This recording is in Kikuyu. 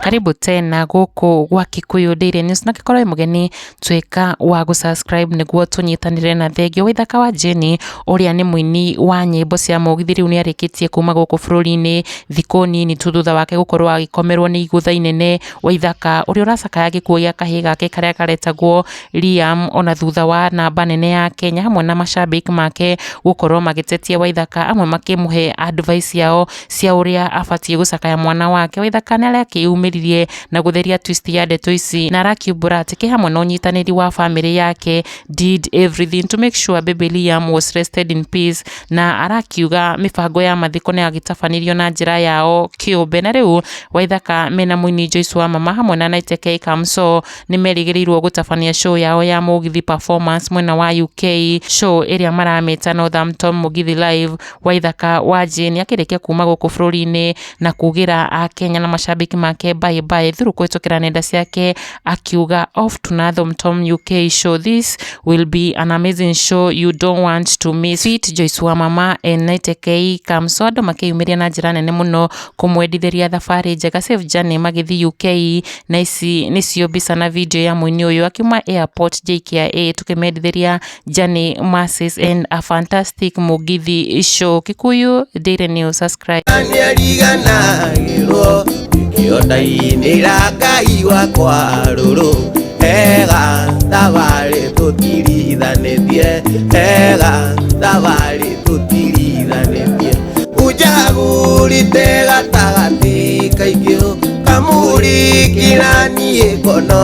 karibu tena gũkũ gwa Kikuyu Daily News na gĩkorwo mũgeni tuĩka wa gũ subscribe nĩguo tũnyitanĩre na thengiũ waithaka wa Jane ũrĩa nĩ mũini wa nyĩmbo cia mũgithi rĩu nĩ arĩkĩtie kuma gũkũ bũrũri-inĩ thikũ nini tu thutha wake gũkorwo agĩkomerwo nĩ igũtha inene waithaka ũrĩa ũracakaya gĩkuũ gĩa kahĩĩ gake karĩa karetagwo Liam ona thutha wa namba nene ya Kenya hamwe na macambĩki make gũkorwo magĩtetia Waithaka amwe makĩmũhe advice yao cia ũrĩa abatiĩ gũcakaya mwana wake, Waithaka nĩ arakĩyumĩririe na gũtheria twist ya ndeto ici na arakiumbũra atĩ kĩ hamwe na ũnyitanĩri wa famĩlĩ yake did everything to make sure baby Liam was rested in peace na arakiuga mĩbango ya mathiko nĩ yagĩtabanirio na njĩra yao kĩũmbe na rĩu Waithaka mena mũini Joyce Wamama hamwe na Naiteke Kamso nĩ merĩgĩrĩirwo gũtabania show yao ya Mũgithi Performance mwena wa UK, show ĩrĩa maramĩta Northampton Mũgithi Live. Waithaka Wanjĩ nĩ akĩrĩkia kuma gũkũ bũrũri-inĩ na kugĩra Akenya na macambĩki make bye bye through kũhĩtũkĩra nenda ciake akiuga off to Northampton UK show this will be an amazing show you don't want to miss it Joyce wa mama Enaitekei Kamso andũ makĩyumĩria na njĩra nene mũno kũmwendithĩria thabarĩ njega safe journey magĩthiĩ UK na ici nĩcio mbica na video ya mũini ũyũ akiuma airport JKIA tũkĩmendithĩria Journey Masses and a Fantastic Mũgithi Show Kikuyu Daily News subscribe nĩariganagĩrwo ikĩondainĩra ngai wakwa rũrũ ega thabarĩ tũtirithanĩtie ega thabarĩ tũtiriranĩtie unjagũrĩte gatagatĩ kaingĩ kamũrĩkĩra niĩ ngono